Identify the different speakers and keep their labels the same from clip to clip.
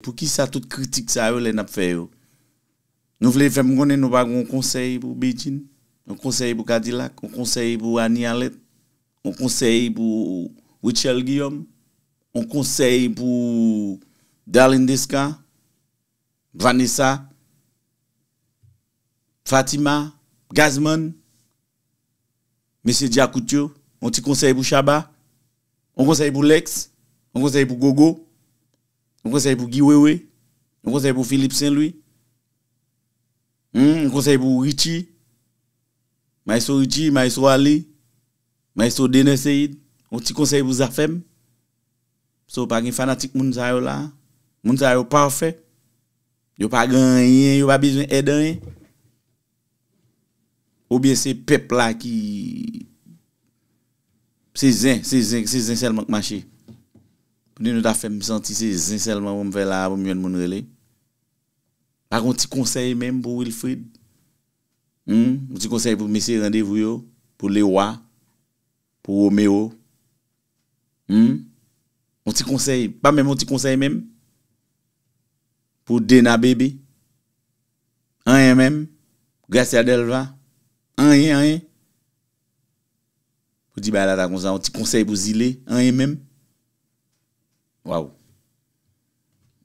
Speaker 1: Poukisa tout kritik sa yo lè nap fè yo? Nou vle fèm konnen nou pa gen yon konsèy pou Bedjine? Yon konsèy pou Kadilak? Yon konsèy pou Annie Allet? Yon konsèy pou Rutshelle Guillaume? Yon konsèy pou Darline Desca? Vanessa? Fatima? Gazzman? Mesye djakout yo, yon ti konsèy pou Shabba, yon konsèy pou Lex, yon konsèy pou Gogo, yon konsèy pou Guy Wewe, yon konsèy pou Philippe Saint Louis, yon konsèy pou Richie, Maestro Richie, Maestro Arly, Maestro Dener Ceïde, yon ti konsèy pou Zafèm. So pa gen fanatik moun sa yo la a. Moun sa yo pafè. Yo pa gen anyen, yo pa bezwen èd anyen. Ou byen se pèp la ki Se zen, se zen, se zen sèlman k mache. Kounye nou ta fè m santi se zen sèlman pou m fè la a pou m jwenn moun rele. Pa gon ti konsèy menm pou Wilfrid? Hum, yon ti konsèy pou mesye randevou yo, pou Lewa, pou Romero? Hum? Yon ti konsèy, pa menm yon ti konsèy menm? Pou Dena Baby? Anyen menm, Gracia Delva, anyen anyen. Pou di bagay la ta konsa, yon ti konsèy pou zile, anyen menm. Waww.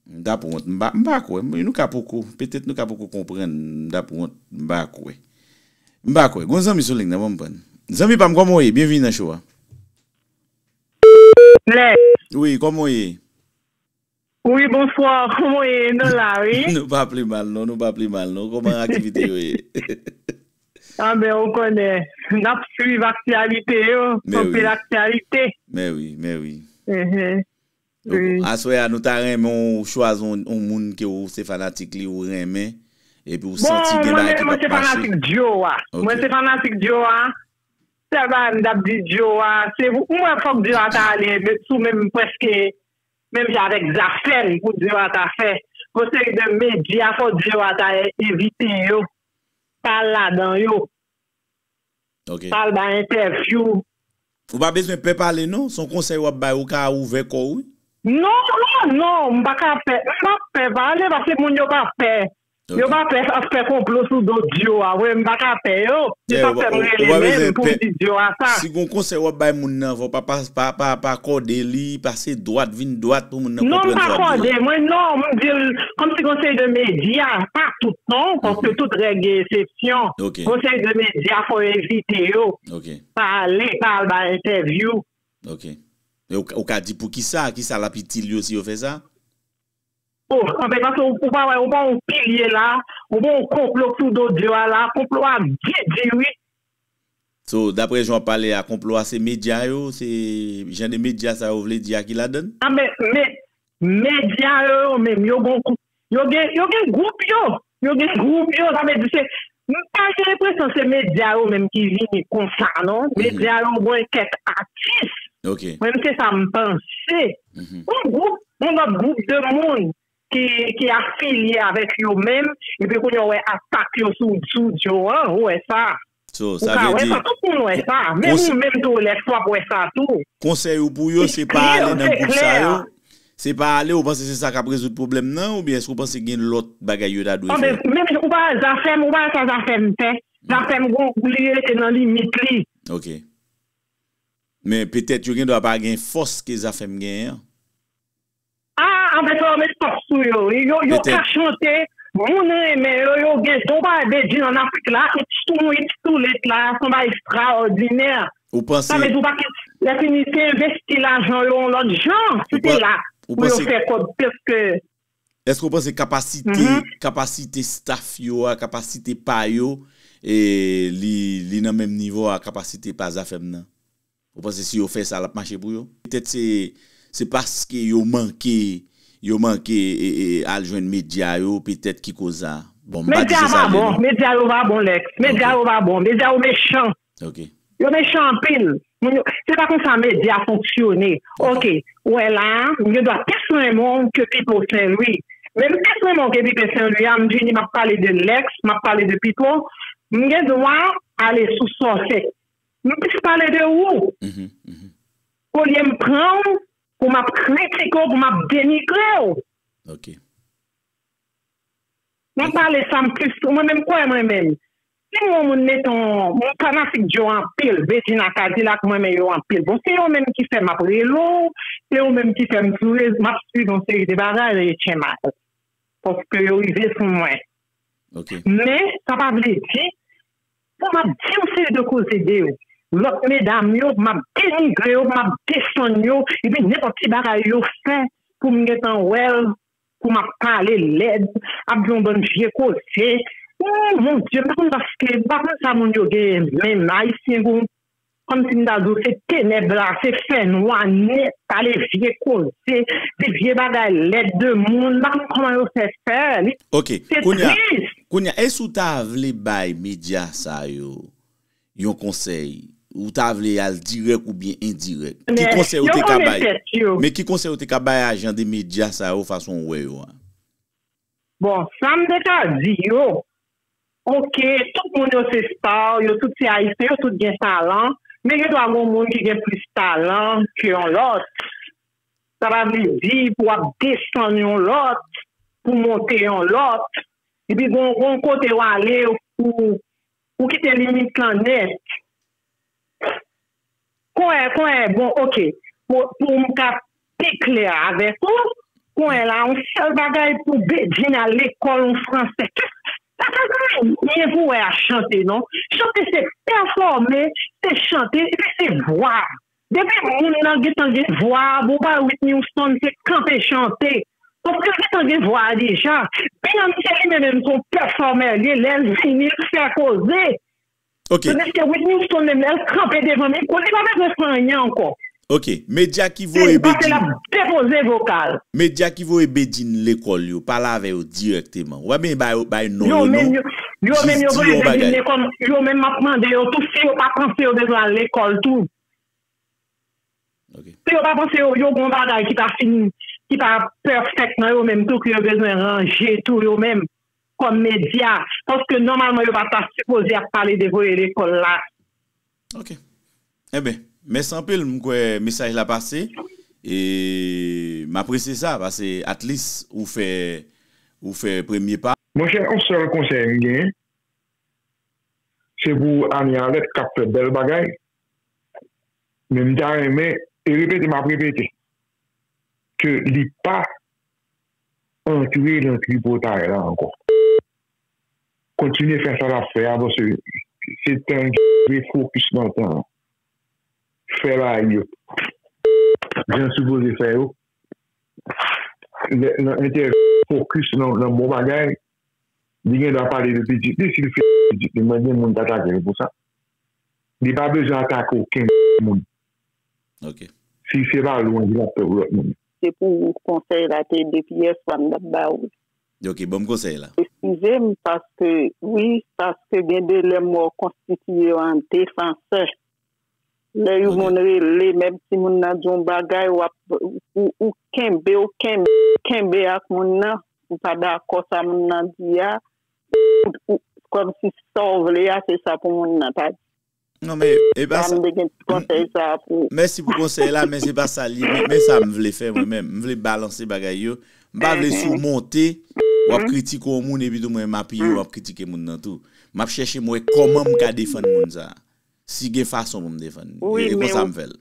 Speaker 1: M tap wont, m pa kwè, nou ka poko, petèt nou ka poko konprann, m tap wont, m pa kwè. M pa kwè, gon zanmi sou line nan banm prann. Zanmi pam kòman w ye? Byenvini nan show a. Blaise. Wi, kòman w ye?
Speaker 2: Wi bonswa kòman ye nou la wi. Nou pa pli mal non nou
Speaker 1: pa pli mal non kòman aktivite yo ye.
Speaker 2: Ah ben ou konnen nap swiv aktyalite yo anpil aktyalite. Men wi
Speaker 1: men wi.
Speaker 2: Aswè a nou
Speaker 1: ta renmen w chwazi yon moun ke w se fanatik li ou renmen epi ou santi gen bagay ki pap mache. Bon mwen se fanatik
Speaker 2: Djo a mwen se fanatik Djo a sèl bagay m tap di Djo a se mwen fòk Djo a ta ale sou menm prèske Menm jan avèk zafè m pou di yo ata fè yon seri de medya fò di yo ata envite yo pa al ladan yo
Speaker 1: pa al bay
Speaker 2: entèvyou. Ou pa
Speaker 1: bezwen pè pale non, son konsèy wap bay ou ka ouvè kòw wi. Non non
Speaker 2: non m paka pè m pap pè pale paske moun yo pa pè Yo pa pè ap fè konplo sou do Dio a vre m paka pè yo se sak fèm rele menm poum di Dio a sa. Si gon konsèy wap bay
Speaker 1: moun nan fò pa kòde li pase dwat vin dwat pou moun nan konprann sa wap di la. Non m pa kòde mwen non
Speaker 2: m dil kòmsi gon seri de medya pa tout non paske tout règ gen esepsyon gon seri de medya fò yo evite yo pa ale pa al bay entèvyou. Ok
Speaker 1: ou ka di poukisa kisa lap itil yo si yo fè sa?
Speaker 2: Oh anfen pase ou pa wè ou pa yon pilye la ou pa yon konplo sou do Dieu a la konplo a byen di wi. So
Speaker 1: daprè jan wap pale a konplo a se media yo se jan de media sa yo vle di a ki ladann? Anben men
Speaker 2: media yo yo menm yo gon yo gen yo gen group yo Yo gen group yo sa vle di se m pa gen enpresyon se medya yo menm ki vini konsa non medya yo mwen kèk atis mwen se
Speaker 1: sa m
Speaker 2: panse yon group yon lòt group de moun ki ki afilye avèk yo menm epi kounye w wè atak yo sou sou Joe an ou wè sa. Ou ka wè
Speaker 1: sa, tout moun wè sa,
Speaker 2: menm ou menm tou Lex wap wè sa tou. Konsèy ou pou yo
Speaker 1: se pa ale nan gwoup sa yo, se pa ale ou panse se sa kap rezoud pwoblèm nan oubyen èske ou panse gen lòt bagay yo ta dwe fè? Menm jan ou pa al zafèm,
Speaker 2: ou pa al sa zafèm fè, zafèm gon gou li rete nan limit li. Ok.
Speaker 1: Men petèt yo gen dwa pa gen fòs ke zafèm genyen an.
Speaker 2: Ah anfen sa yo met pap sou yo wi yo yo ka chante moun renmen yo yo gen don pa de di an afrik la it's too much it's too late la son bagay ekstraòdinè sa vle di
Speaker 1: ou pa ka lè
Speaker 2: fini se envesti lajan yo yon lòt jan si te la pou yo fè kòb pske. Eske ou
Speaker 1: panse kapasite kapasite staff yo a kapasite pa yo li nan menm nivo a kapasite pa zafèm nan? Ou panse si yo fè sa lap mache pou yo? Petèt se se paske yo manke yo manke al jwenn medya yo petèt ki koz sa. Bon m pa di Medya se sa pa l ye bon, non.
Speaker 2: medya yo pa bon Lex, medya yo pa bon, medya yo mechan, Ok. yo
Speaker 1: mechan anpil,
Speaker 2: moun yo, se pa konsa medya fonksyone, ok, ou wè la a, m gen dwa plis renmen w ke Pipo Senlwi, men m plis renmen w ke Pipo Senlwi a, m vini m ap pale de Lex, m ap pale de Pipo, m gen dwa ale sou sòsè, M plis pale de ou olye m pran w pou m ap
Speaker 1: kritike
Speaker 2: w, pou m ap denigre w. M pale sa m plis sou mwen menm kwè mwen menm si m wè yon moun meton m fanatik Joe anpil Bedjina Kadilak m renmen yo anpil bon se yo menm ki fè m ap rele w se yo menm ki fè m sou rezo m ap swiv yon seri de bagay rele Tchema yo paske yo rive sou mwen
Speaker 1: men sa pa
Speaker 2: vle di Bon map di yon seri de koze de yo lòt medam yo map denigre yo map desann yo epi nenpòt ti bagay yo fè poum gentan wèl pou map pale lèd ap di yon bann vye koze ooh mon Dieu m pa konn paske m pa konn sa moun yo gen menm ayisyen gou. Kòm si m ta di w se tenèb la, se fènwa nèt, pale vye koze, di vye bagay lèd de moun, m pa konn kòman yo fè fè li. Ok, kounya, kounya e si w ta
Speaker 1: vle bay medya sa yo yon konsèy, ou ta vle y al dirèk oubyen endirèk, ki konsèy ou te ka bay? Men, yo konnen tèt yo. Men ki konsèy ou te ka bay a jan de medya sa yo fason ou wè yo a?
Speaker 2: Bon sam te ka di yo ok tout moun yo se star yo tout se ayisyen yo tout gen talan men gen dwa gon moun ki gen plis talan ke yon lòt sa pa vle di pou wap desann yon lòt pou monte yon lòt epi gon kote wale pou Ou kite limit lan nèt. Kouwè kouwè bon ok pou m ka pi klè avèk ou kouwè la yon sèl bagay pou Bedjine al lekòl yon fransè kès sa pa gen anyen pou wè a chante non chante se pèfòme se chante epi se vwa Depi moun nan gentan gen vwa bon pa Whitney Houston se kanpe chante paskel gentan gen vwa a deja Beyoncé li menm menm son pèfòmè liye lèl vini li fè koze Ok.
Speaker 1: tandiske Whitney Houston
Speaker 2: menm lèl kanpe devan mikwo li pa bezwen fè anyen ankò Ok medya
Speaker 1: ki se voye paske Bedjine lap depoze
Speaker 2: vokal. Medya ki voye
Speaker 1: Bedjine lekòl yo pale avè yo dirèkteman. Wap byn ba yo bay non
Speaker 2: yo non jis di yo yon bagay. Yo menm map mande yo tou si yo pa panse yo bezwen al lekòl tou.
Speaker 1: Si yo pa
Speaker 2: panse yo gon bagay ki pa fin ki pa pèfèk nan yo menm tou ke yo bezwen ranje tou yo menm kòm medya paske nòmalman yo pa ta sipoze ap pale de voye lekòl la. Ok
Speaker 1: enben mèsi anpil m kwè mesaj la pase e m apresye sa pase at least ou fè ou fè premye pa. Monchè on sèl
Speaker 3: konsèy m gen se pou Annie Alerte kap fè bèl bagay men m ta renmen e repete map repete ke li pa antre nan tripotay la ankò. kontinye fè sa lap fè a pase se tan dwe fokis nan tan an fè bagay yo jan l sipoze fè yo nan entèvyou l fokis nan bon bagay li gen dwa pale de pitit li si l fè pitit li mwen gen moun k atake l pou sa li pa bezwen atake okenn moun
Speaker 1: si se pa
Speaker 3: lwanj lap fè pou lòt moun. Se pou
Speaker 4: konsèy la te de pyès fwa m tap ba ou l.
Speaker 1: Ok banm konsèy la. Eskizem paske
Speaker 4: wi paske gen de lè m wè w konstitiye w an defansè lè you moun rele menm si moun nan di w yon bagay wap ou kenbe w kenbe kenbe ak moun nan ou pa dakò sa moun nan di a ou kòmsi sa w vle a se sa pou moun nan ta di. Non men
Speaker 1: e pa sa. Pamde gen ti konsèy sa pou. Mèsi pou konsèy la men se pa sa li ye men sa m vle fè mwen menm. M vle balanse bagay yo. M pa vle sou monte w ap kritike yon moun epi tou mwen m apiye w ap kritike moun nan tou. M ap chèche m wè kòman m ka defann moun sa. Si gen fason pou m defann li. E konsa m fè l.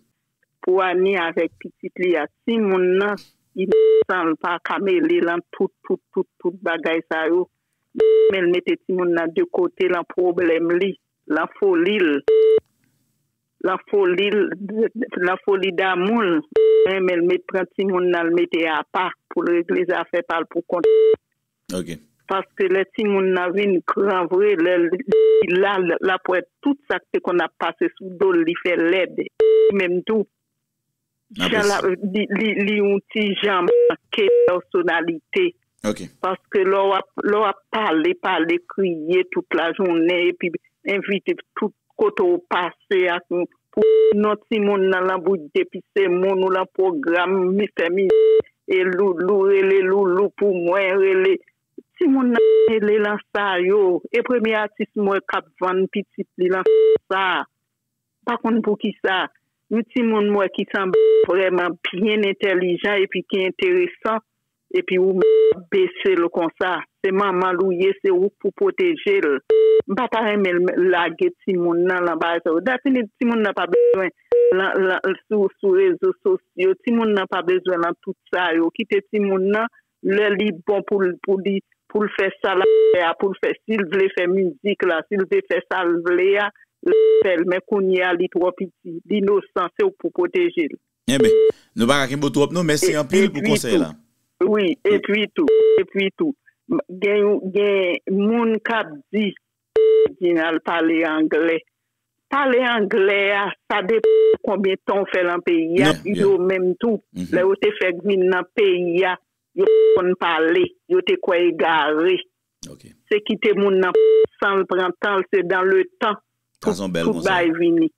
Speaker 1: Pou Annie
Speaker 4: avèk pitit li a si moun nan inosan l pa ka mele lan tout tout tout tout bagay sa yo men l mete timoun nan de kote lan pwoblèm li. Lan foli l Lan foli l Lan foli damou l renmen l met pran timoun nan l mete apa pou l regle zafè pa l pou kont li
Speaker 1: paske lè
Speaker 4: timoun nan vin gran vre lè l li la l ap wè tout sa k te konn ap pase sou do l li fè lèd li menm tou. Jan lap li yon ti jan manke pèsonalite
Speaker 1: paske
Speaker 4: lè wap pale pale kriye tout la jounen epi envite tout kote ou pase ak yon pou non ti moun nan lan bouch depi se moun ou lan pwogram mi fè mizik e loulou rele loulou pou mwen rele ti moun nan mele lan sa yo e premye atis m wè kap vann pitit li lan sa Pa konn poukisa, yon timoun m wè ki sanble vrèman byen entèlijan epi ki enteresan epi ou menm wap bese l konsa. Se manman l ou ye, se ou k pou pwoteje l. M pa ta renmen l lage timoun nan lan bagay sa yo. Dapini timoun nan pa bezwen l sou rezo sosyo, timoun nan pa bezwen l lan tout sa yo. Kite timoun nan lè li bon pou l pou li pou l fè sa l ap fè a pou l fè si l vle fè mizik la si l vle fè sa l vle a l ap fè l men kounye a li twò piti l inosan se w k pou pwoteje l. Enben
Speaker 1: Nou paka kenbe w twòp non mèsi anpil pou konsèy la. Wi epi
Speaker 4: tou epi tou gen gen moun k ap di Reginald pale anglè. Pale anglè a sa depan konbyen tan ou fè lan peyi a yo menm tou lè yo te fèk vin nan peyi a yo pat konn pale yo te kwè egare se kite moun nan pale sanl pran tanl se dan le tan tout
Speaker 1: bagay vini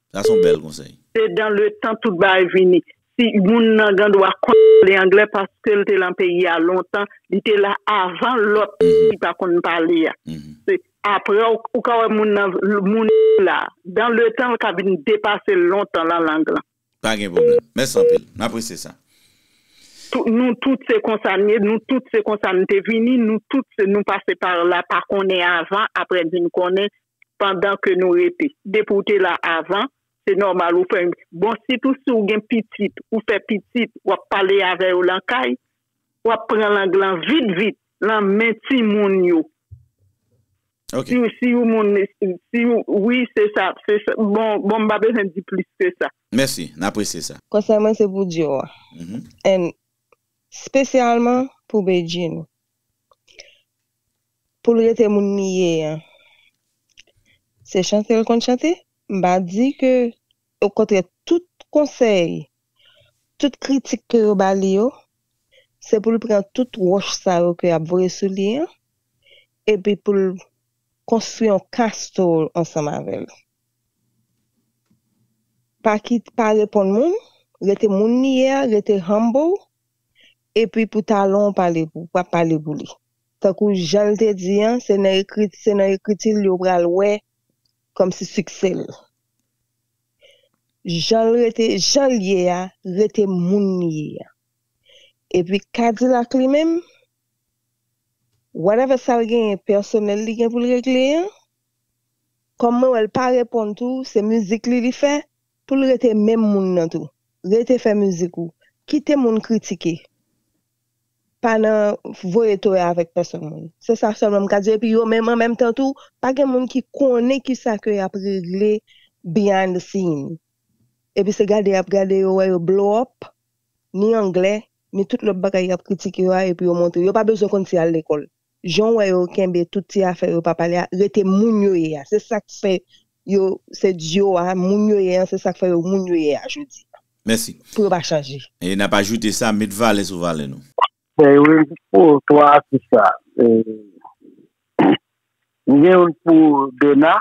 Speaker 4: se dan le tan tout bagay vini Si moun nan gan dwa konn pale anglè paskel te lan peyi a lontan li te la avan lòt ki pa konn pale a se aprè ou ka wè moun nan moun li la dan le tan li ka vin depasel lontan lan lang lan. Pa gen pwoblèm.
Speaker 1: Mèsi anpil. M apresye sa.
Speaker 4: Nou tout se konsa n ye, nou tout se konsa n te vini, nou tout se nou pase par la pa konnen avan aprè vin konnen pandan ke nou rete depi ou te la avan se nòmal ou fè bon sitou si ou gen pitit ou fè pitit wap pale avè yo lan kay wap pran lang lan vit vit lan men timoun yo
Speaker 1: si ou moun
Speaker 4: si ou wi se sa bon m pa bezwen di plis ke sa. Mèsi n apresye
Speaker 1: sa. Konsèy mwen se pou Dior
Speaker 5: and spesyalman pou Bedjine. Pou l rete moun li ye an. Se chante l konn chante. M pa di ke okontrè tout konsèy, tout kritik ke yo ba li yo, se pou l pran tout wòch sa yo ke y ap voye sou li an epi pou l konstwi yon castle ansanm avè l. Pa kit, pa reponn moun, rete moun li ye a, rete humble Epi pou talon w pale pou, pa pale pou li. Tankou jan l te di an, se nan ekriti, se nan ekriti l yo pral wè kòmsi siksè l. Jan l rete, jan l ye a, rete moun li ye a. Epi Kadilak li menm, whatever sa l genyen pèsonèl li gen pou l regle an, kòm mwen wè l pa reponn tou, se mizik li li fè, Poul rete menm moun nan tou. Rete fè mizik ou. Kite moun kritike. Pa nan voye toya avèk pèsonn moun. Se sa sèlman m ka di w epi yo menm an menm tan tou pa gen moun ki konnen kisa ke yap regle behind the scene. Epi se gade yap gade yo wè yo blow up ni anglè ni tout lòt bagay yap kritike yo a epi yo montre. Yo pa bezwen konn si yal lekòl. Janw wè yo kenbe tout ti afè yo pa pale a rete moun yo ye a se sak fè yo se duo a moun yo ye an se sak fè yo moun yo ye a jodi a Mèsi. pou yo pa
Speaker 1: chanje.
Speaker 5: E nap ajoute sa,
Speaker 1: met valè sou valè nou. Mwen gen
Speaker 6: youn pou 3 atis sa. Mwen gen youn pou Dona,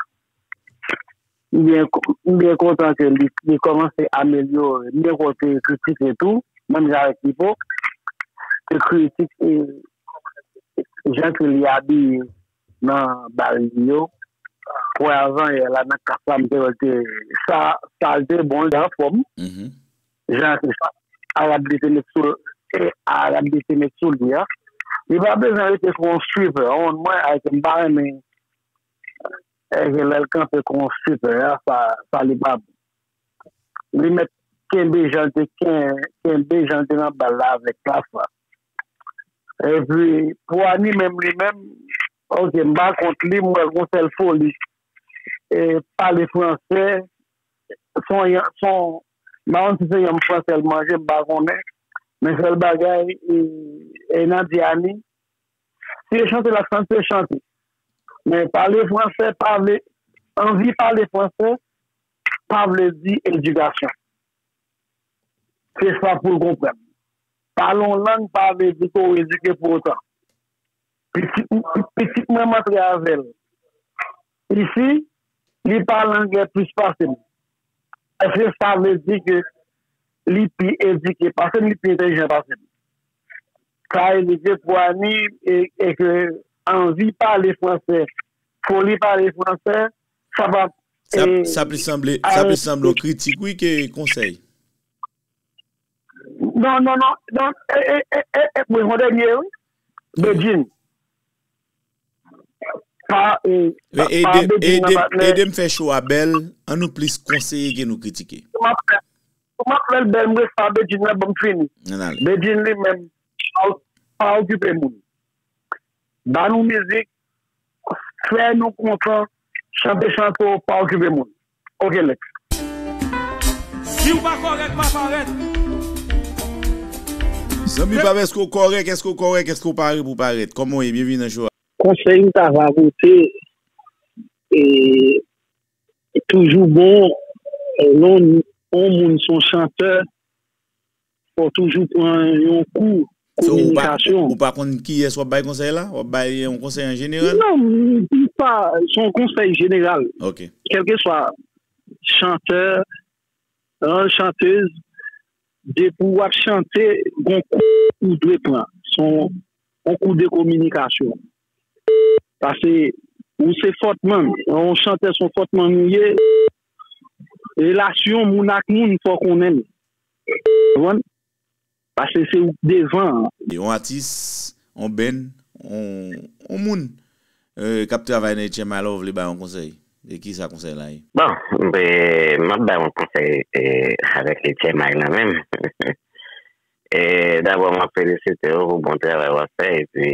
Speaker 6: M byen m byen kontan ke li li kòmanse amelyore. M byen kwè w te kritike tou, menm jan avèk Pipo, te kritike jan ke li abiye nan bal li yo. Wè avanyè la nan klas la m te wè l te sa sa l te bon, l te anfòm. Jan ke Arab li te met sou l e Arab li te met sou li a. Li pa bezwen rete kou on suiveur, on mwen ayiti m pa renmen. Herve lèl kanpe kon super a sa li pa bon li mèt kenbe janl te kenbe janl te nan bal la avèk klass la epi pou Annie menm li menm ok m pa kont li m wèl gon sèl foli e pale fransè son yon son m pa konn si se yanm fransè l manje m pa konnen men sèl bagay e nan di Annie Si yo chante lap chante chante men pale fransè pale anvi pale fransè pa vle di edikasyon se sa poul konprann pale yon lang pa vle di ke w edike pou otan pitit mwen m antre avèl Isi, li pale anglè plis pase m. Eske sa vle di ke li pi edike pase m, li pi entelijan pase m? Sa vle di ke pou Ani, e ke anvi pale franse, foli pale franse, sa pa.
Speaker 1: Sa plis sanble yon kritik wi ke konsèy. Non,
Speaker 6: non, non. Donk, e, e, e, e, e, mwen yon dènye wi. Bedjine.
Speaker 1: Edem fè show a bèl, an nou plis konseye ke nou kritike. Pou map
Speaker 6: fèl bèl m ret pa Bedjine la banm fini. Bedjine li menm pa okipe moun. Ba nou mizik, fè nou kontan, chante chante w pa okipe moun. Ok next.
Speaker 7: Siw pa kòrèk ma parèt.
Speaker 1: Zanmi pam eske ou kòrèk eske ou kòrèk eske ou pare pou parèt kòman ou ye byenvini nan show a. Konsèy m ta va
Speaker 6: pote e toujou bon lè yon moun son chantè Fòw toujou pran yon kou kominikasyon. Ou pa konn kiyès
Speaker 1: wap bay konsèy la? Wap bay yon konsèy an jeneral? Non, pa,
Speaker 6: se yon konsèy jeneral. Ok. Kèlke
Speaker 1: swa
Speaker 6: chantè, an chantez, depi wap chante, gon kou ou dwe pran. Se yon kou de kominikasyon. Pase ou se fòtman, yon chantè se yon fòtman ou ye, relasyon moun ak moun fòw konnen li. Konprann? Pase se ou k devan an. Yon atis,
Speaker 1: yon band, yon moun k ap travay nan HMI la ou vle bay yon konsèy? E kisa konsèy la ye? Bon,
Speaker 8: m ap bay yon konsèy avèk HMI nan menm. Dabò m ap felisite w pou bon travay w ap fè epi.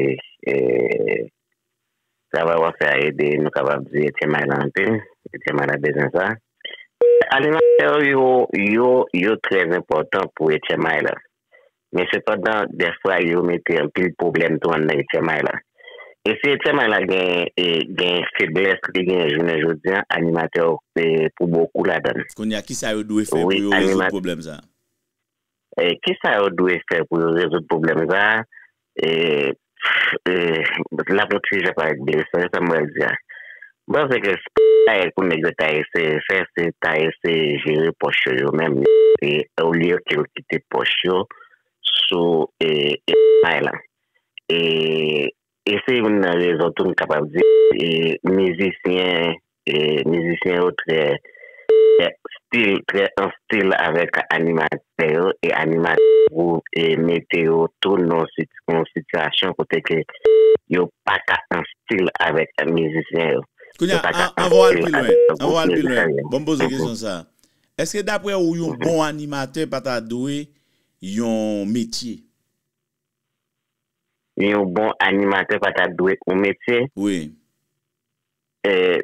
Speaker 8: Travay wap fè a ede nou kapab di Etyen may la anpil, Etyen may la bezwen sa. Fè alimantè w yo yo yo trè enpòtan pou Etyen may la. Men sepandan dèfwa yo mete anpil pwoblèm tou anndan Etyen may la. E si Etyen may la gen gen feblès li gen jounen jodi an animatè w pou bokou ladan l. Kounye a kisa yo dwe
Speaker 1: fè pou yo rezoud pwoblèm sa?
Speaker 8: Ki sa yo dwe fè pou yo rezoud pwoblèm sa a? Pff lap yon ti jan parèt ble, sonje sa m pral di a. M panse ke se pa bagay pou nèg yo ta eseye fè, se ta eseye jere pòch yo yo menm olye ke yo kite pòch yo sou epay lan. E E se youn nan rezon tou m kapab di mizisyen mizisyen yo trè stil trè an stil avèk animatè yo e animatè yo mete yo tou nan yon sitiyasyon kote ke yo pa ka an stil avèk mizisyen yo. Kounye a, anvan
Speaker 1: w al pi lwen, anvan w al pi lwen, ban m poze w kesyon sa a, èske daprè ou yon bon animatè pa ta dwe yon metye?
Speaker 8: Yon bon animatè pa ta dwe yon metye? Wi.
Speaker 1: Eeh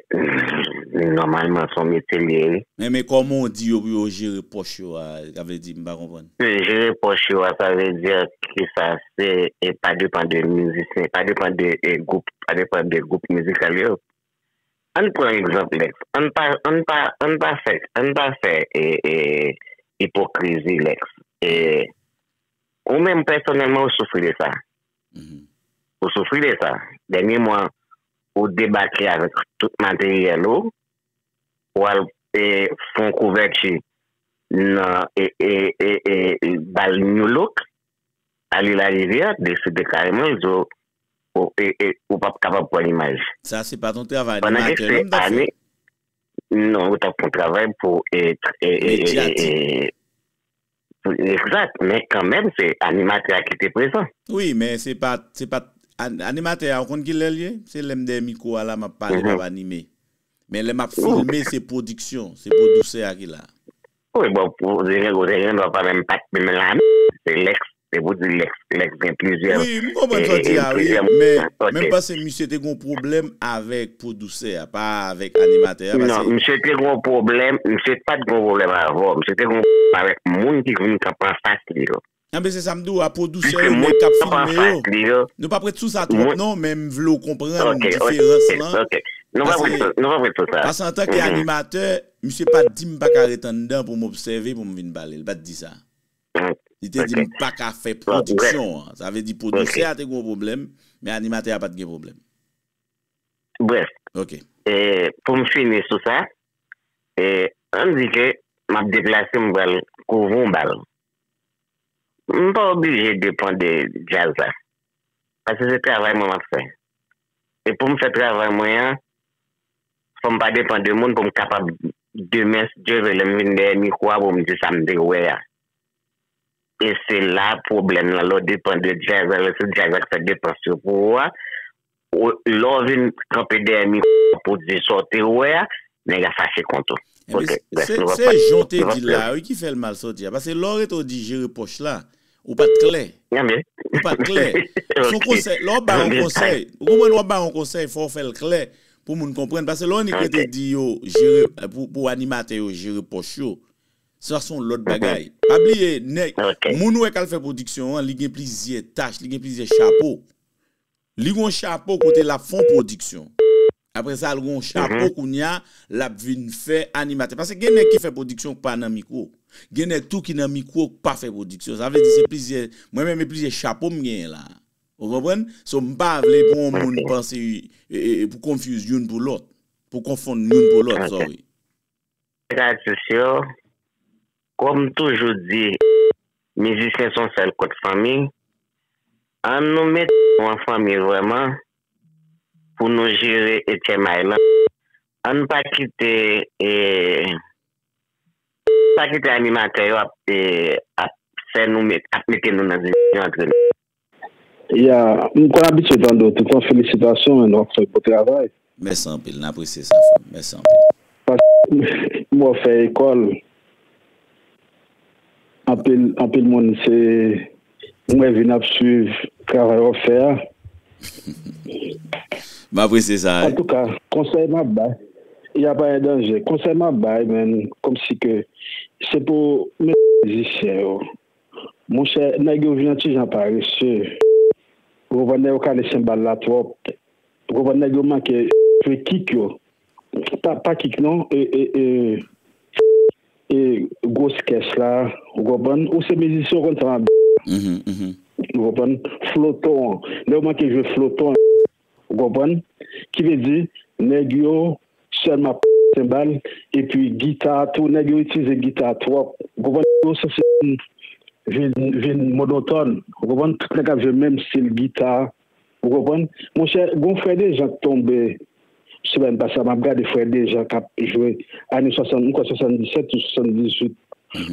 Speaker 8: nòmalman son metye liye wi. Men men kòman ou di
Speaker 1: yo pou yo jere pòch yo a sa vle di m pa konprann. Jere pòch yo a
Speaker 8: sa vle di ke sa se pa depan de mizisyen pa depan de gwoup pa depan de gwoup mizikal yo. Ann pran egzanp Lex ann pa ann pa ann pa fè ann pa fè ipokrizi Lex. Ou menm pèsonèlman ou soufri de sa. Ou soufri de sa. Dènye mwa ou debake avèk tout materyèl ou, ou al fè yon kouvèti nan bal New Look, Arly Larivière deside kareman l di w ou p ap kapab pran imaj. Sa se
Speaker 1: pa t yon travay animatè non m t ap fè?
Speaker 8: Non, ou t ap fè yon travay pou. Medyatik. Exact men kanmenm se animatè a kite prezan. Wi men se pat
Speaker 1: se pat Animatè a ou konn kilèl ye se lèm dèyè mikwo a la map pale map anime men lè map filme se pwodiksyon se pwodousè a ki la. Wi bon
Speaker 8: pwodiksyon kote gen dwa pa menm pat menm la menm se lèx se pou di lèx lèx gen plizyè plizyè moun ok. Wi m konprann sa w di
Speaker 1: a wi men men m panse misye te gon pwoblèm avèk pwodou. Sè a pa avèk animatè a pase. Non misye te gon
Speaker 8: pwoblèm misye pat gon pwoblèm avèw misye te gon pwoblèm avèk moun ki vin kanpe anfas li yo. Anben se sam
Speaker 1: diw a pwodusè yo menm kap filme yo nou pap ret sou sa twòp non men m vle w konprann diferans lan
Speaker 8: pase antan ke animatè
Speaker 1: misye pat dim paka ret anndan pou m obsève pou m vin pale li pat di sa li te dim paka fè pwodiksyon an sa vle di pwodusè a te gon pwoblèm men animatè a pat gen pwoblèm.
Speaker 8: Brèf,
Speaker 1: pou m
Speaker 8: fini sou sa, ann di ke m ap deplase m pral kouvri yon bal. M pa oblije depan de djaz la, paske se travay mwen m ap fè. E pou m fè travay mwen an, fò m pa depan de moun pou m kapab demen si Dye vle lè m vin dèyè mikwo a pou m di sa m te wè a. E se la pwoblèm lan, lè w depan de djaz la, lè se djaz la ki fè depans yo pou ou a, Lè w vin kanpe dèyè mikwo a pou w di sa w te wè a, nèg la fache kont ou. Se
Speaker 1: jan w te di l la a wi ki fè l mal sòti a. Pase lè w rete w di jere pòch la, ou pa t klè. Ou pa t klè. Se yon konsèy. Lè w ap bay yon konsèy, ou konprann lè w ap bay yon konsèy fò w fè l klè pou moun konprann. Pase lè w annik rete di yo jere, pou animatè yo jere pòch yo, sa se yon lòt bagay. Pa bliye nèg, moun ou wè k al fè pwodiksyon an, li gen plizyè tach, li gen plizyè chapo. Li gon chapo kote lap fon pwodiksyon. Aprè sa l gon chapo kounya lap vin fè animatè. Pase gen nèg ki fè pwodiksyon k pa nan mikwo. Gen nèg tou ki nan mikwo k pa fè pwodiksyon. Sa vle di se plizyè, mwen menm e plizyè chapo m genyen la. Ou konprann? So m pa vle pou on moun panse, pou confuse youn pou lòt. Pou konfonn youn pou lòt, sorry. Rad sosyo.
Speaker 8: Kòm m toujou di mizisyen son sèl kot fanmi an nou mete nou an fanmi vrèman pou nou jere etchèmay lan ann pa kite pa kite animatè yo ap fè nou ap mete nou nan divizyon antre nou.
Speaker 9: Ya m konn abitye tande w toutan felisitasyon man wap fè bon travay. Mèsi anpil n
Speaker 1: apresye sa frè m mèsi anpil. Paske
Speaker 9: m wè w fè ekòl anpil anpil moun se m wè vin ap swiv travay wap fè a.
Speaker 1: M apresye sa. Antouka konsèy
Speaker 9: m ap bay ya pa endanje konsèy m ap bay man kòmsi ke se pou w mete mizisyen yo Monchè nèg yo vin yon ti jan parese ou konprann nèg yo kale senbal la twòp ou konprann nèg yo manke jwe kik yo pa kik non e gwos kès la ou konprann ou se mizisyen ou konn sa map di la ou konprann floton lè yo manke jwe floton. Ou konprann? Ki vle di, nèg yo sèlman ap senbal, epi gita tou, nèg yo itilize gita twòp. Ou konprann? Yo sanse vin monotòn. Ou konprann? Tout nèg ap jwe menm stil gita. Ou konprann? Monchè, gon Frè Dejan k tonbe semèn pase a, m ap gade Frè Dejan k ap jwe ane 60, m kwè 77 ou 78,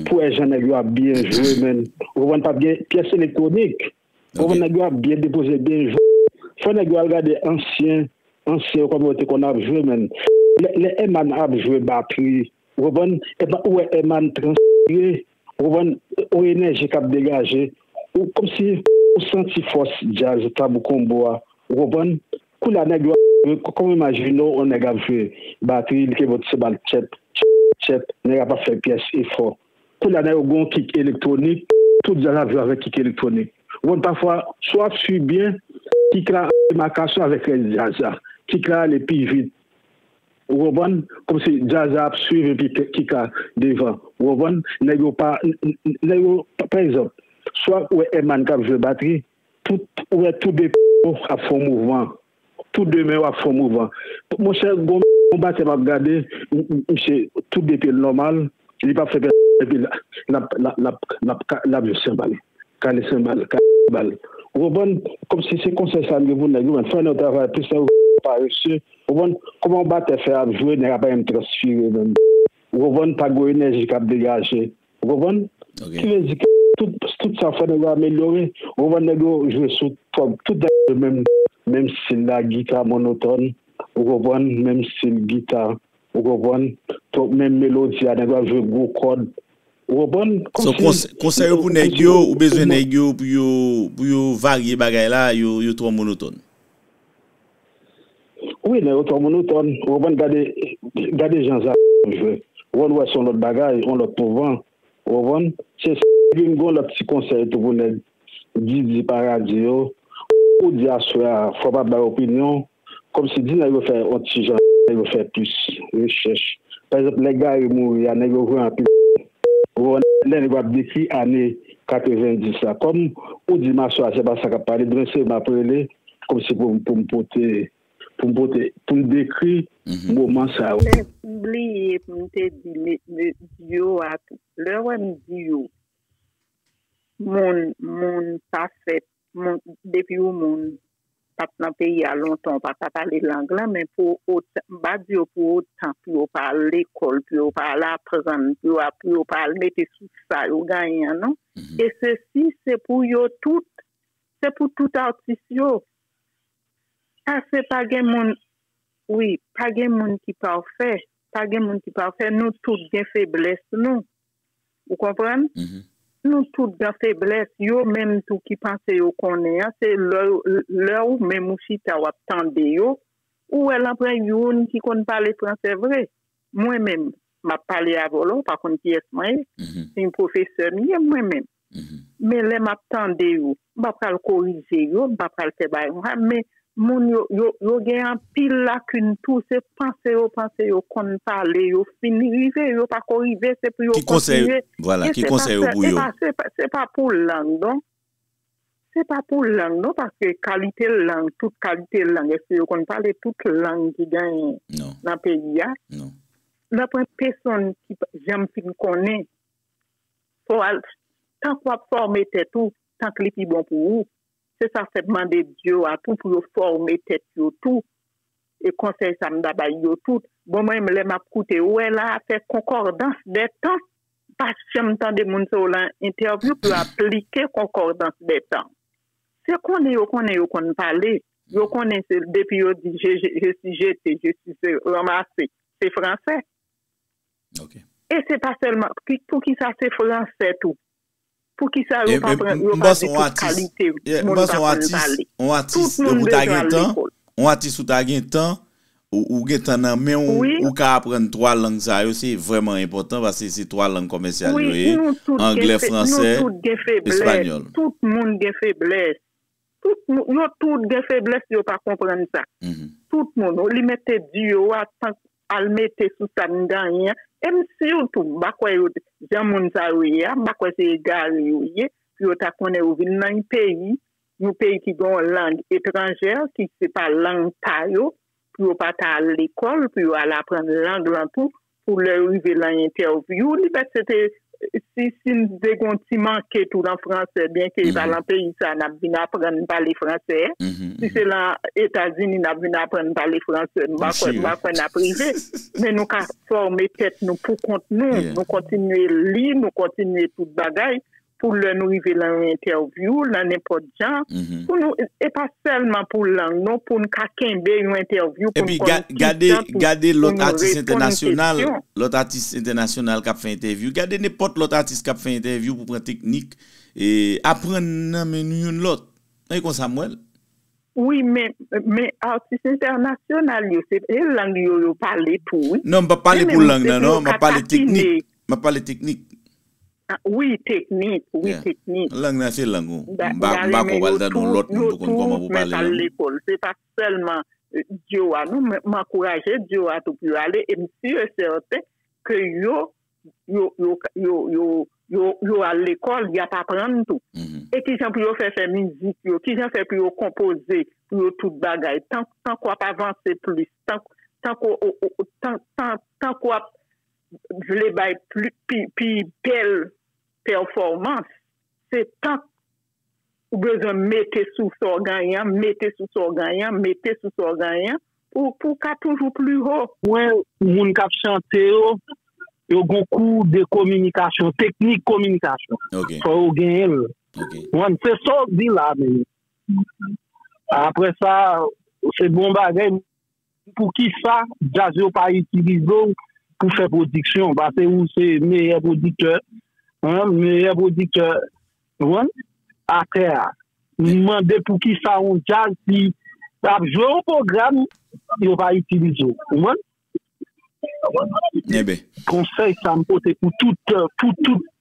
Speaker 9: pou wè jan nèg yo ap byen jwe menn. Ou konprann? Pa p gen pyès elektwonik. Fò nèg yo ap byen depoze byen jwe. Fò nèg yo al gade ansyen ansyen yo kòman yo te konn ap jwe menn. Lè Herman ap jwe batri ou konprann epa ou wè Herman transpire ou konprann on enèji kap degaje ou kòmsi ou santi fòs djaz Tabou Combo a ou konprann. Koulye a nèg yo ap jwe kòman ou imajine w on nèg ap jwe batri li te vòt se bal tchèp tchèp tchèp nèg la pa fè pyès efò Koulya nan yo gon kik elektwonik, tout djaz ap jwe avèk kik elektwonik. Ou konn pafwa si wap swiv byen kik la ap fè makasyon avèk rès djaz la. Kik la ale pi vit ou konprann, kòmsi djaz la ap swiv epi kik la devan ou konprann. Nèg yo pa nèg yo pa egzanp si wap wè Herman kap jwe batri tout ou wè tou 2 pye yo ap fè yon mouvman Tou de men wap fon mouvan. Monchè gon batè map gade misye tou de pyel nòmal li pap fè pèsòn epi lap lap lap lap jwe senbal kale senbal kale senbal ou konprann komsi se konsèy sa mgen pou nèg yo menn fè nèg travay plis lè yo parese ou konprann kòman yon batè fè ap jwe nèg ap ap transfire menm ou konprann pa gon enèji kap degaje Ou konprann? Ok. Ki vle di ke tout, tout sa w fè nèg yo amelyore. Ou konprann? Nèg yo jwe sou twòp, tout bagay yo menm, menm stil la, gita monotòn, ou konprann, menm stil gita, ou konprann, twòp menm melodi a, nèg yo ap jwe gwo kòd, ou konprann, So, kòmsi kons, konsèy ou
Speaker 1: pou nèg yo, ou bezwen nèg yo pou yo, pou yo varye bagay la, yo, yo twò monotòn.
Speaker 9: Wi nan otò moun otòn ou konprann gade gade jan zara ap jwe wòl ou wè son lòt bagay yon lòt pouvan ou konprann se sa epi m gon lòt ti konsèy tou pou nèg didi paradi yo ou di aswè a fò pa bay opinyon kòmsi di nèg yo fè yon ti jan nèg yo fè plis rechèch pa egzanp lè gari mouri a nèg yo jwe anpil ou konprann lè nèg yo ap dekri ane 90 la kòm ou di m aswè a se pa sa k ap pale demen se m ap rele. Kòm si pou pou m pote pou m pote pou m dekri moman sa yo. Men m bliye
Speaker 4: pou m te di duo a tou. Lè wè m duo moun moun pa fèt moun depi ou moun pa t nan peyi a lontan ou pa ka pale lang lan men pou otan m pa di yo pou otan pou yo pa al lekòl pou yo pa al aprann pou yo pa al mete sou sa yo genyen an non e sesi se pou yo tout Se pou tout atis yo. Pase pa gen moun wi pa gen moun ki pafè pa gen moun ki pafè nou tout gen feblès nou ou konprann nou tout gen feblès yo menm tou ki panse yo konnen an se lè lè ou menm ou chita wap tande yo ou wè lan pran youn ki konn pale fransè vre mwen menm map pale avèw la ou pa konn kiyès mwen ye se yon pwofesè m ye mwen menm. Men lè map tande yo, m pa pral korije yo, m pa pral fè bagay konsa, men moun yo, yo gen anpil lakin tou, se panse yo panse yo konn pale, yo fin rive, yo pa ko rive, se pou yo kontinye, men
Speaker 1: se pa sèl, e pa se, se pa pou
Speaker 4: lang non, se pa pou lang non, paske kalite lang, tout kalite lang, èske yo konn pale tout lang ki genyen nan peyi a? Nan pwen peson ki janm fin konnen. Fò al tank wap fòme tèt ou tank li pi bon pou ou se sa fèm mande dyo a tou pou yo fòme tèt yo tou e konsèy sa m ta bay yo tout bon mwen menm lè map koute ou wè la fè konkòdans dè tan pa janm tande moun se w lan entèvyou pou yo aplike konkòdans dè tan se konnen yo konnen yo konn pale yo konnen se depi yo di je si jete je si se ranmase se fransè.
Speaker 1: E se pa
Speaker 4: sèlman, pou ki sa se fransè tou? Pou ki sa yo pa pran, yo
Speaker 1: pa di tout kalite moun pa konn pale? Tout moun bezwen al lekòl. Yon atis ou ta gen tan, ou gen tan nan men ou, ou ka aprann 3 lang sa yo, se vrèman enpòtan, paske se 3 lang kòmèsyal yo ye, anglè, fransè, espanyòl. Tout moun
Speaker 4: gen feblès. Tout moun, yo tout gen feblès, yo pa konprann sa. Tout moun, ou li mèt te di yo a, Al mete sou sa m ganyen an. E m siw tou, m pa kwè yo t, jan moun sa yo ye a, m pa kwè se egare yo ye, pou yo ta konnen yo vin nan yon peyi, yon peyi ki gen yon lang etranjè, ki se pa lang pa yo, pou yo pa ta al lekòl, pou yo al aprann lang lan tou, pou lè yo rive lan entèvyou, li fèk se te Si si n vle gen yon ti manke tou lan franse, byenke e pa lan peyi sa a n ap vin aprann pale franse, si se lan Etazini n ap vin aprann pale franse, m pa kwè m pa kwè n ap rive. Men nou ka fòme tèt nou pou kont nou, nou kontinye li, nou kontinye tout bagay pou lè nou rive lan yon entèvyou, lan nenpòt. jan pou nou e pa sèlman pou lang non pou n ka kenbe yon entèvyou pou n konn kijan pou pou nou reponn
Speaker 1: kesyon. Gade lòt atis entènasyonal, lòt atis entènasyonal k ap fè entèvyou, gade nenpòt lòt atis k ap fè entèvyou pou pran teknik e aprann nan men nou youn lòt. Mwen e konsa m wè l. Wi
Speaker 4: men, men atis entènasyonal yo se lang yo yo pale tou wi. Non m p ap pale pou lang
Speaker 1: nan non, m ap pale teknik, m ap pale teknik.
Speaker 4: Wi teknik, wi teknik. Lang
Speaker 1: nan se lang ou. M pa kwè w al tande yon lòt moun pou konn kòman pou pale lang ou. Se pa
Speaker 4: sèlman Dioua non, m ankouraje Dioua tou pou yo ale e m si e sèten ke yo yo al lekòl, y ap aprann tou. E kijan pou yo fè fè mizik yo, kijan fè pou yo konpoze pou yo tout bagay. Tank w ap avanse plis, tank w ap vle bay pi bèl pèfòmans, se tank ou bezwen mete sou sa w genyen an, mete sou sa w genyen an, mete sou sa w genyen an, pou w ka toujou pli ho. Mwen moun
Speaker 9: kap chante yo, yo gon kou de kominikasyon, teknik kominikasyon. Fò yo genyen l. Ou konprann? Se sa w di la menm. Aprè sa, se bon bagay. Poukisa djaz yo pa itilize w pou fè pwodiksyon pase ou se meyè pwodiktè meyè pwodiktè atè a m mande poukisa yon djaz ki ap jwe yon pwogram yo pa itilize w konsèy sa m pote pou tout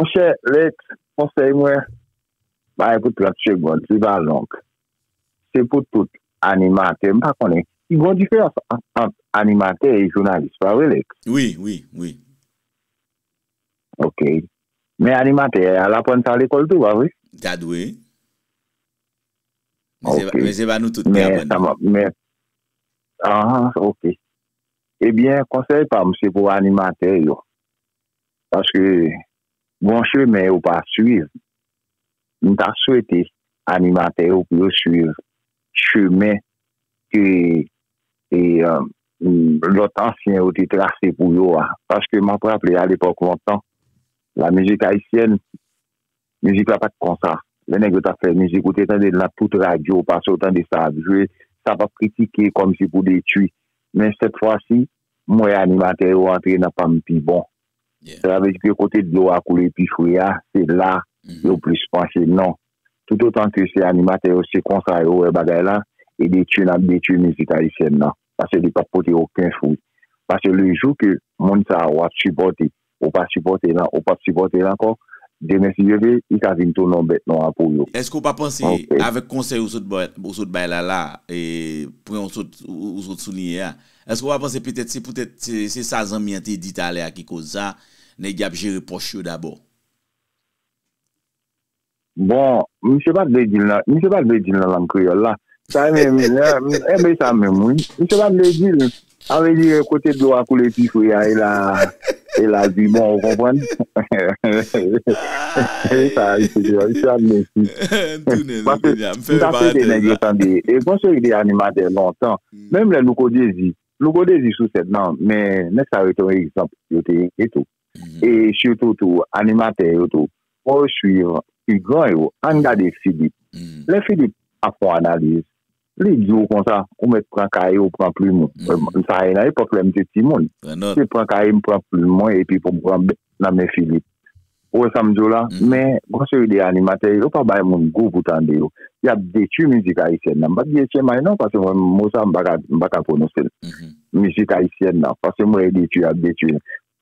Speaker 3: Monchè Lex, konsèy mwen bay pou 30 segond, li pa long. Se pou tout
Speaker 10: animatè, m pa konnen, gon diferans ant animatè e jounalis, pa vre Lex? Wi, wi, wi. Ok. Men animatè a, l aprann sa lekòl tou, pa vre? Ta dwe.
Speaker 1: Ok.
Speaker 10: Men se pa nou tout ki aprann. Men
Speaker 1: sa m ap, men,
Speaker 10: anhan, ok. Ebyen konsèy pam se pou animatè yo paske gon chemen yo pa swiv m ta swete animatè yo pou yo swiv chemen ke lòt ansyen yo te trase pou yo a paske map raple alepòk lontan la mizik ayisyèn Mizik la pat konsa. Lè nèg yo tap fè mizik ou te tandel nan tout radyo pase ou tande sa ap jwe, sa pap kritike kòmsi pou detwi. Men sèt fwa si, m wè animatè yo antre nan pam pi bon. Sa vle di ke kote dlo a koule pi fre a, se la yo plis panche. Non. Toutotan ke se animatè yo se konsa yo wè bagay la, e detwi nap detwi mizik ayisyèn nan. Pase li pap pote oken fwi. Pase le jou ke moun sa wap sipòte ou pa sipòte nan ou pap sipòte l ankò demen si Dye vle li ka vin tounen yon bèt nwa pou yo. Eske ou pa panse
Speaker 1: avèk konsèy ou sot bay la la e pwen ou sot souliye a eske ou pa panse petèt se poutèt se sa zanmi an te di talè a ki koz sa nèg y ap jere pòch yo dabò.
Speaker 10: Bon, misye pa t vle di l nan, misye pa t vle di l nan lang kreyòl la. Sa e menm, e men sa menm wi. Misye pa t vle di l. Sa vle di kote dlo a koule pi fre a e la, e la l pi bon, ou konprann? E sa misye di menm, misye ap mesi. M tounen nan kounye a, m fè yon parantèz la. E gon seri de animatè lontan, menm lè Louko Dezi, Louko Dezi sou sèn nan, men nèg sa yo te yon egzanp, yo te ye tou. e sitou tou animatè yo tou fò yo swiv pi gran yo ann gade Filip lè Filip ap fon analiz li di w konsa ou mèt pran kaye ou pran plim ou sa e nan epòk lè m te timoun se pran kaye m pran plim mwen epi pou m pran bèk nan men Filip ou wè sa m di w la men gwo seri de animatè yo pa bay moun gou pou tande yo y ap detui mizik ayisyèn nan m pa t di etchemay non paske mwen mo sa m pa ka pwononse l mizik ayisyèn nan paske m wè yo detui y ap detui l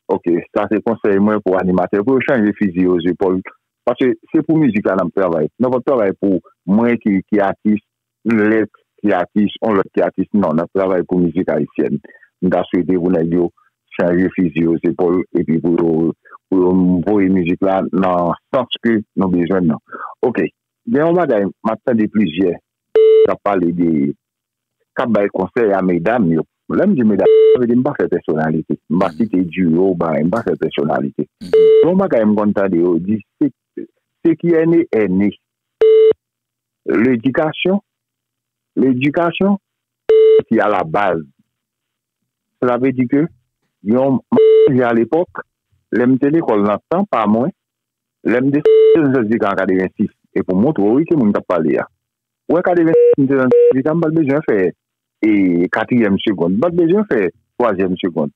Speaker 10: Ok sa se konsèy mwen pou animatè pou yo chanje fizi yo zepòl paske se pou mizik la nap travay nou pap travay pou mwen ki atis yon lèt ki atis yon lòt ki atis non nap travay pou mizik ayisyèn m ta swete pou nèg yo chanje fizi yo zepòl epi pou yo pou yo voye mizik la nan sans ke nou bezwen nan ok gen yon bagay map tande plizyè kap pale de kap bay konsèy a medam yo lè m di medam yo sa vle di m pa fè pèsonalite m pa site di yo ou bagay m pa fè pèsonalite yon bagay m konn tande yo di se ki ène ène ledikasyon ledikasyon ki a la baz sa vle di ke yon manje a lepòk lè m te lekòl nan tan pa mwen lè m desann nan zazika an 86 e pou m montre w wi ki moun kap pale a. Wè ka deven si m te nan ti sa m pat bezwen fè e katriyèm segond. M pat bezwen fè twazyèm segond.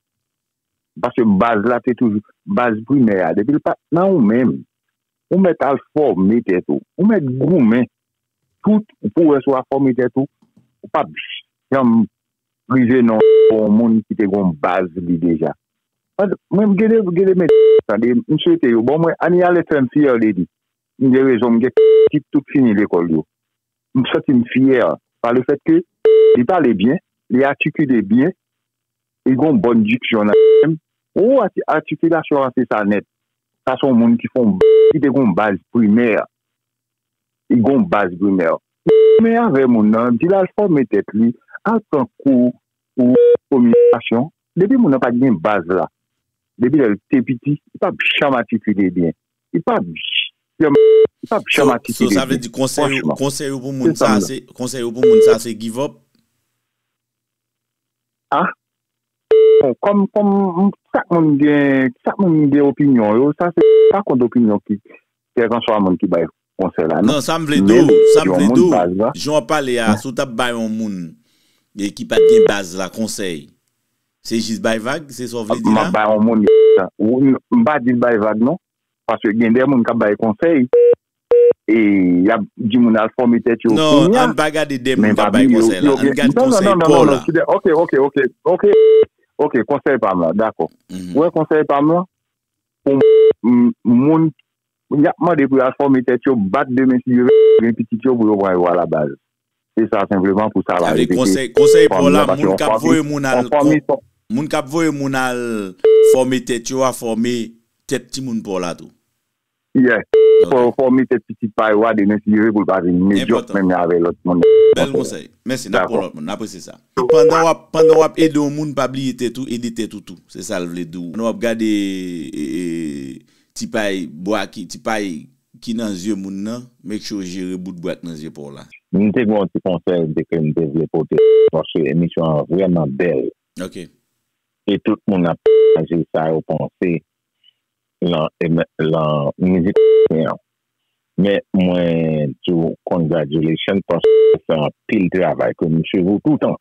Speaker 10: Paske baz la te toujou baz primè a depi l pat nan ou menm ou mèt al fòme tèt ou. Ou mèt goumen tout pou wè si w a fòme tèt ou. Ou pap janm rive nan yon moun ki te gon baz li deja. Mwen gen de mèt tande m swete yo bon mwen aniyalèt fè m fyè de li. m gen rezon m gen pitit tout fini lekòl yo m santi m fyè pa le fèt ke li pale byen li atikile byen li gon bòn diksyon nan tè m oo atikilasyon an se sa nèt sa son moun ki fon ki te gon baz primè li gon baz primè men avè moun nan di l al fòme tèt li al pran kou pou kominikasyon depi moun nan pa t gen baz la depi lè l te piti li p ap janm atikile byen li pap janm atikile li. So sa vle di konsèy
Speaker 1: ou pou moun sa se, konsèy ou pou moun sa se give up?
Speaker 10: A? Bon, kòm, kòm, chak moun gen, chak moun gen opinyon yo, sa se pa kont opinyon ki, kèlkanswa moun ki bay konsèy la non. Non, sa m
Speaker 1: vle di w, sa m vle di w, jan w ap pale a, si w t ap bay yon moun ki pa t gen baz la konsèy, Se jis bay vag, se sa w vle di la? M ap bay yon moun
Speaker 10: m pa di l bay vag non. Paske gen de moun k ap bay konsèy e y ap di moun al fòme tèt yo kounya. Non, ann pa gade
Speaker 1: de moun k ap bay konsèy la. Ann gade konsèy pa w la. Ok, ok, ok, ok,
Speaker 10: ok, konsèy pa m la, dakò. Ou wè konsèy pa m lan? Pou moun Moun yap mande pou yal fòme tèt yo bat de men si yo gen pitit yo pou yo pran yo ala baz. Se sa senpleman pou sa pa repete fanmi an pase yon
Speaker 1: fanmi yon fanmi son. Moun kap voye moun al fòme tèt yo a fòme tèt timoun paw la tou. Yes
Speaker 10: fò yo fòme tèt pitit pa yo a de men si yo vle poul pa vin medyòk menm jan avè lòt moun. Bèl konsèy.
Speaker 1: Mèsi nap pran lòt moun. Napresye sa. Pandan wap pandan wap ede yon moun pa bliye tèt ou ede tèt ou tou. Se sal vle diw. Pandan wap gade Ti pay bwa ki ti pay ki nan zye moun nan make sure w jere bout bwa k nan zye paw la. M te gen yon ti
Speaker 10: konsèy m te ke m te vle pote paske emisyon an vrèman bèl Ok.
Speaker 1: e tout
Speaker 10: moun ap pataje sa yo panse lan lan mizik ayisyen an men mwen di w congratulations paske ou fè anpil travay ke m swiv ou toutan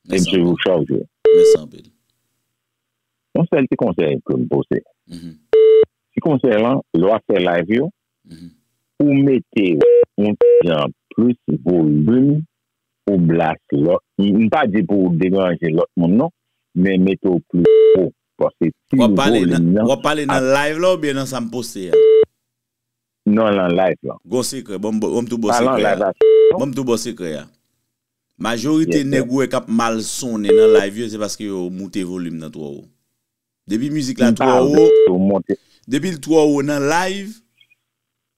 Speaker 10: e m swiv ou chak jou. Mèsi anpil. Yon sèl ti konsèy ke m pote. Ti konsèy lan, lè w ap fè live yo, ou mete yon ti jan plis volim pou bas lò. M pa di pou w deranje lòt moun non, men mete w plis wo. Paske si yon volim nan. W ap
Speaker 1: pale nan live la oubyen nan sa m poste a?
Speaker 10: Nan lan live lan. Gon sekrè, ban
Speaker 1: m tou bo sekrè a. Ban m tou bo sekrè a. Majorite nèg ou wè kap mal sonnen nan live yo se paske yo moute volume nan twò wo. Depi mizik la twò wo, depil twò wo nan live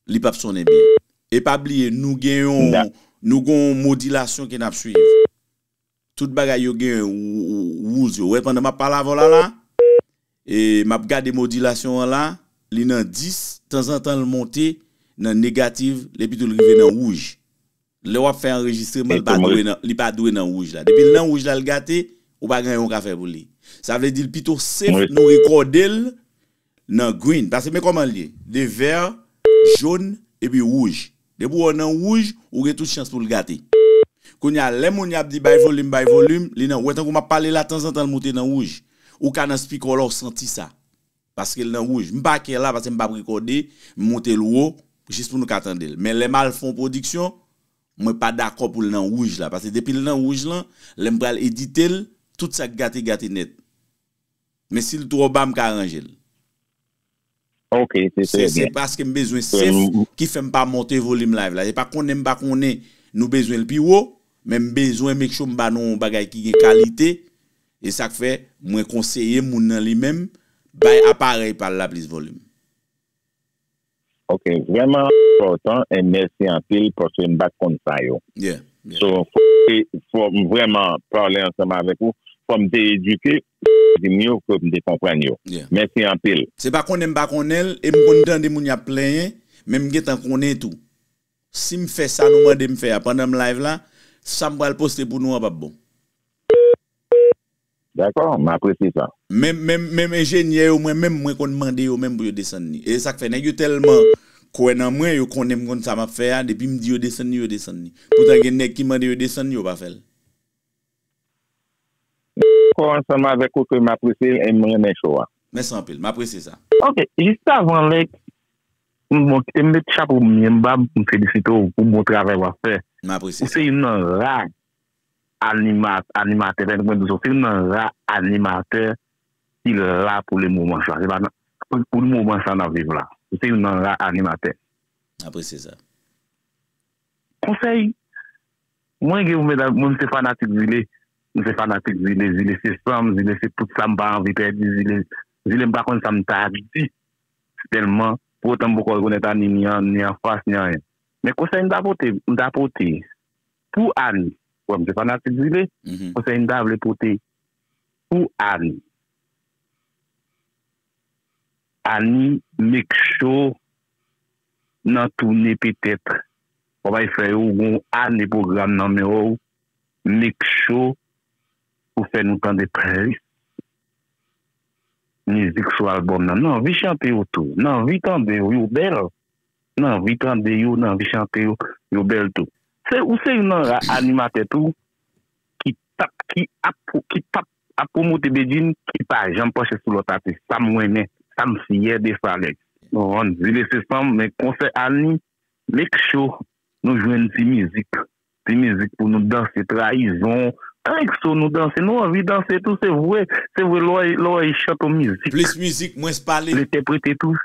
Speaker 1: li pap sonnen byen. E pa bliye nou gen yon nou gen yon modilasyon ke nap swiv. Tout bagay yo gen rules yo. Ou wè pandan map pale avèw la la e map gade modilasyon an la li nan 10 tanzantan l monte nan negative epitou l rive nan wouj. Lè wap fè anrejistreman li pa dwe nan li pa dwe nan wouj la depil nan wouj la l gate ou pa gen anyen ou ka fè pou li sa vle di l pito sef nou rekòde l nan green pase men kòman l ye de vèr jón epi wouj depi w wè l nan wouj ou gen tout chans pou l gate kounye a lè moun yo ap di bay volim bay volim li nan ou wè tankou map pale la tanzantan l moute nan wouj ou ka nan spikòl la w santi sa. Paskel nan rouj. M pa kè la paske m pap rekòde, m moute l wo jis pou nou ka tande l. Men lè m al fè yon pwodiksyon, mwen pa dakò pou l nan rouj la. Paske depi l nan rouj lan, lè m pral edite l, tout sa k gate gate nèt. Men si l twò ba m ka aranje l.
Speaker 10: Ok, se trè byen. Se
Speaker 1: paske m bezwen sef ki fè m pa monte volim live la. Se pa konnen m pa konnen nou bezwen l pi wo, men m bezwen make sure m ba nou yon bagay ki gen kalite. E sak fè mwen konseye moun nan li menm bay aparèy pal la plis volume.
Speaker 10: Ok vrèman enpòtan and mèsi anpil paske m pat konn sa yo so fòm vrèman pale ansanm avèk ou fòm te edike di m yo ke m te konprann yo mèsi anpil. Se pa konnen m pa konnen
Speaker 1: l e m konn tande moun y ap plenyen men m gentan konnen tou. Si m fè sa nou mande m fè a pandan m live la, sa m pral poste pou nou an pap bon.
Speaker 10: Dakò, m apresye sa. Menm menm menm
Speaker 1: enjenyè yo mwen menm mwen konn mande yo menm pou yo desann li. E sak fè nèg yo tèlman kwè nan mwen, yo konnen m konn sa map fè a, depi m di yo desann li yo desann li. Poutan gen nèg ki mande yo desann li yo pa fè l.
Speaker 10: Kò ansanm avèk ou ke m apresye l e m renmen show a. Mèsi anpil. M apresye
Speaker 1: sa. Ok, jiskavan
Speaker 9: lè bon kite m met chapo m mye m ba m pou m felisite w pou bon travay w ap fè. M apresye sa. Ou se youn nan
Speaker 1: ra
Speaker 9: anima animatè tande mwen di w sa ou se youn nan ra animatè ki la pou le moman sa se pa nan pou moman sa n ap viv la ou se youn nan ra animatè. M apresye sa.
Speaker 1: Konsèy
Speaker 9: Mwen gen pou mwen nan mwen m se fanatik zile m se fanatik zile zile se san m zile se tout sa m pa anvi pèdi zile zile m pa konn sa m ta di tèlman pou otan m poko rekonèt Annie ni an ni anfas ni anyen men konsèy m ta pote m ta pote pou Annie wè m se fanatik zile konsèy m ta vle pote pou Annie. Annie make sure nan toune petèt wap al fè yo ou gen yon ane pwogram nan men w make sure ou fè nou tande plis mizik sou album nan nan anvi chante yo tou nan anvi tande yo yo bèl nan anvi tande yo nan anvi chante yo yo bèl tou ou se youn nan ra animatè tou ki tap ki ap ki pap Ap promote Bedjine ki pa janm panche sou lòt atis sam renmen sam fyè de Falex. Nou vann zile se sanm men konsè Annie make sure nou jwenn ti mizik ti mizik pou nou danse trayizon annik so nou danse nou anvi danse tou se vwe se vwe lè w lè w chante yon mizik Plis mizik mwens pale. L
Speaker 1: entèprete
Speaker 9: tou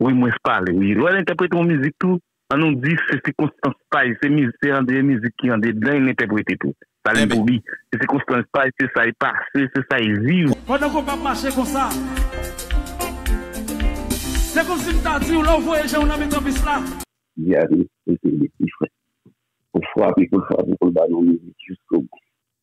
Speaker 9: Wi mwen s pale wi lè l entèprete yon mizik tou an
Speaker 11: nou di se sikonstans pay se miz se andre mizik ki andedan l entèprete tou sa li pou li se sikonstans pay se sa y pase se sa y viv. Pandan konpa ap mache
Speaker 7: konsa Se konsi m ta di w lè w voye
Speaker 10: je w nan mitan pis la. Di a te eseye ti frè pou l frape pou l frape pou l ba nou mizik jiskobou.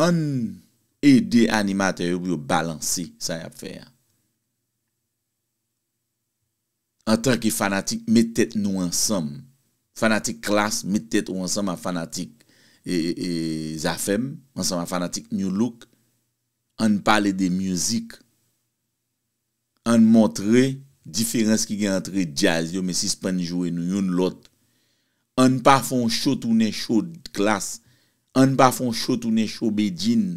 Speaker 1: Ann ede animatè yo pou yo balanse sa yap fè a. Antanke fanatik met tèt nou ansanm. Fanatik klass met tèt ou ansanm ak fanatik zafèm, ansanm ak fanatik Nu Look, ann pale de music. Ann montre diferans ki gen antre djaz yo men sispann joure nou youn lòt ann pa fè yon cho tounen cho klass ann pa fè yon cho tounen cho bedjine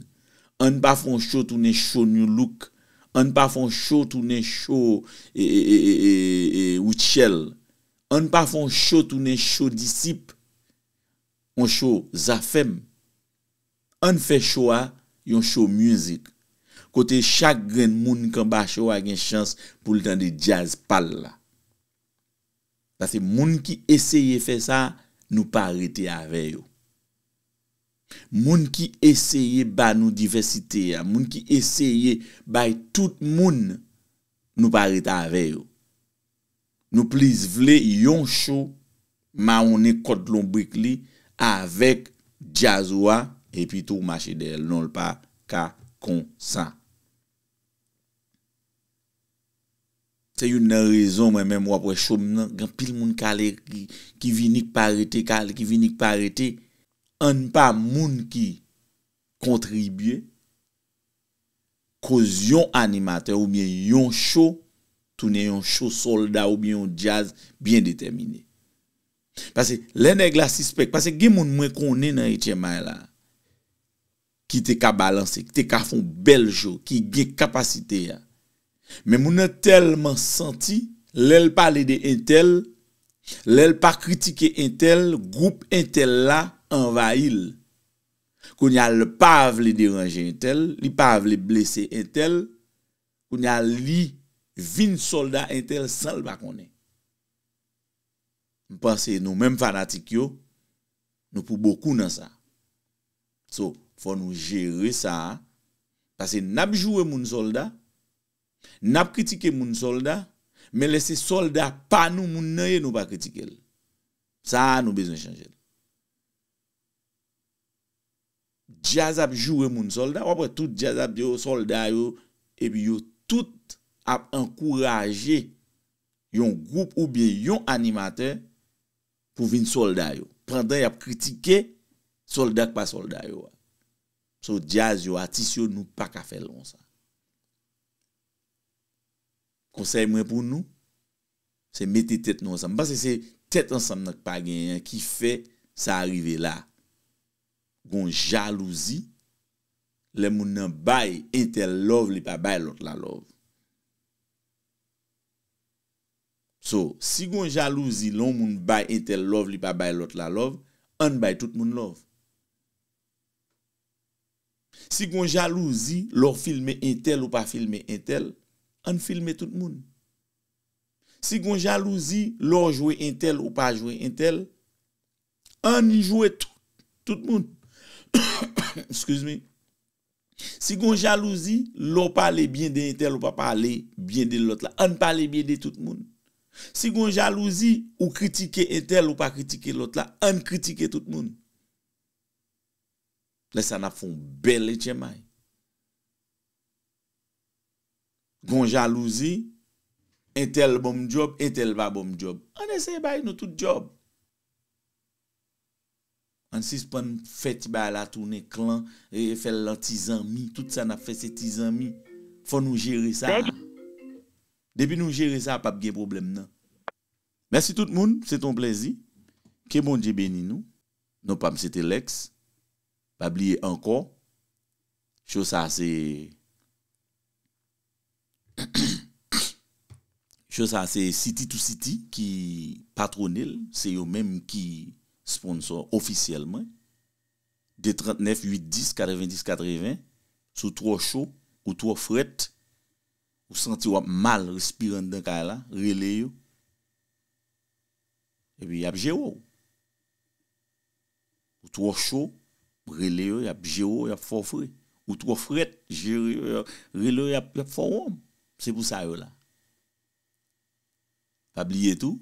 Speaker 1: ann pa fè yon cho tounen cho nu look ann pa fè yon cho tounen cho rutshell ann pa fè yon cho tounen cho disip yon cho zafèm. Ann fè show a yon show music kote chak grenn moun k anba show a gen chans pou l tande jazz pa l la. Pase moun ki eseye fè sa nou pa rete avè yo. Moun ki eseye ba nou divèsite a, moun ki eseye bay tout moun nou pa ret avè yo. Nou plis vle yon show mawonnen kòd lonbrik li avèk djaz ou a epi tou mache dèyèl non l pa ka konsa. Se youn nan rezon mwen menm wap wè show m nan gen anpil moun kale ki vini k pa rete kale ki vini k pa rete. Ann pa moun ki kontribye koz yon animatè oubyen yon cho tounen yon cho sòlda oubyen yon djaz byen detèmine. Pase lè nèg la sispèk, pase gen moun mwen konnen nan HMI la ki te ka balanse, ki te ka fon bèl cho, ki gen kapasite a. Men moun nan tèlman santi, lè l pale de entèl, lè l pa kritike entèl, gwoup entèl la anvayi l. Kounye a l pa vle deranje entèl, li pa vle blese entèl, kounye a li vin sòlda entèl san l pa konnen. M panse nou menm fanatik yo, nou pou bokou nan sa. So, fò nou jere sa, pase n ap joure moun sòlda, n ap kritike moun sòlda, men lè se sòlda pa nou moun nan ye nou pa kritike l. Sa a nou bezwen chanje l. Djaz ap joure moun solda wap wè tout djaz ap di yo solda yo epi yo tout ap ankouraje yon gwoup oubyen yon animatè pou vin solda yo pandan yap kritike solda k pa solda yo a so djaz yo atis yo nou paka fèl konsa konsèy mwen pou nou Se mete tèt nou ansanm. M panse se tèt ansanm nan k pa genyen an ki fè sa a rive la. Gon jalouzi lè moun nan bay entèl love li pa bay lòt la love. So, si gon jalouzi lè on moun bay entèl love li pa bay lòt la love, ann bay tout moun love. Si gon jalouzi lè w filme entèl ou pa filme entèl, ann filme tout moun. Si gon jalouzi lè w jwe entèl ou pa jwe entèl ann jwe tout moun excuse me si gon jalouzi lè w pale byen de entèl ou pa pale byen de lòt la ann pale byen de tout moun si gon jalouzi ou kritike entèl ou pa kritike lòt la ann kritike tout moun lè sa n ap fè yon bèl etchèmay. gon jalouzi, entèl bon m djòb, entèl pa bon m djòb. Ann eseye bay nou tout djòb. Ann sispann fè ti bagay la tounen klan, fè l an ti zanmi, tout sa n ap fè se ti zanmi. Fò nou jere sa. Depi nou jere sa, pap gen pwoblèm nan. Mèsi tout moun, se te yon plèzi. Ke Bondye beni nou. Non pa m se Telex. Pa bliye ankò show sa se show sa se city to city ki patwone l se yo menm ki sponsò ofisyèl mwen 2 39 8 10 90 80 si w twò cho ou twò frèt ou santi w ap mal respire anndan kay la rele yo epi y ap jere w. Ou twò cho, rele yo y ap jere w y ap fè w fre. Ou twò frèt, jere yo, rele yo y ap fè w wonm. Se pou sa yo la. Pa bliye tou,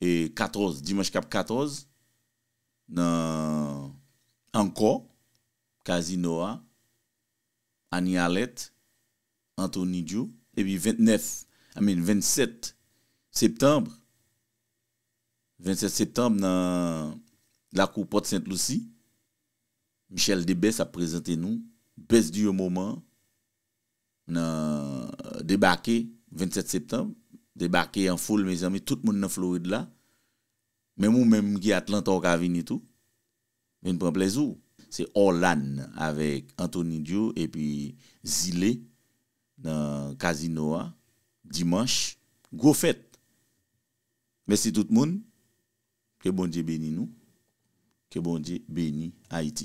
Speaker 1: 14, dimanch k ap 14, nan Ankò, Kazino a, Annie Alerte, Anthony Djo, epi 29, I mean 27 septanbre, 27 septanb nan lakou Pòt Sent Lousi, Michèle Debès ap prezante nou Best Duo Moment nan debake 27 septanb, debake an foul mezanmi tout moun nan Florid la, menm ou menm ki Atlanta ou ka vini tou, vin pran plèzi w. Se Orlann avèk Anthony Duo epi Zile nan Kazino a, dimanch, gwo fèt Mesi tout moun, ke Bondye beni nou, ke Bondye beni Ayiti.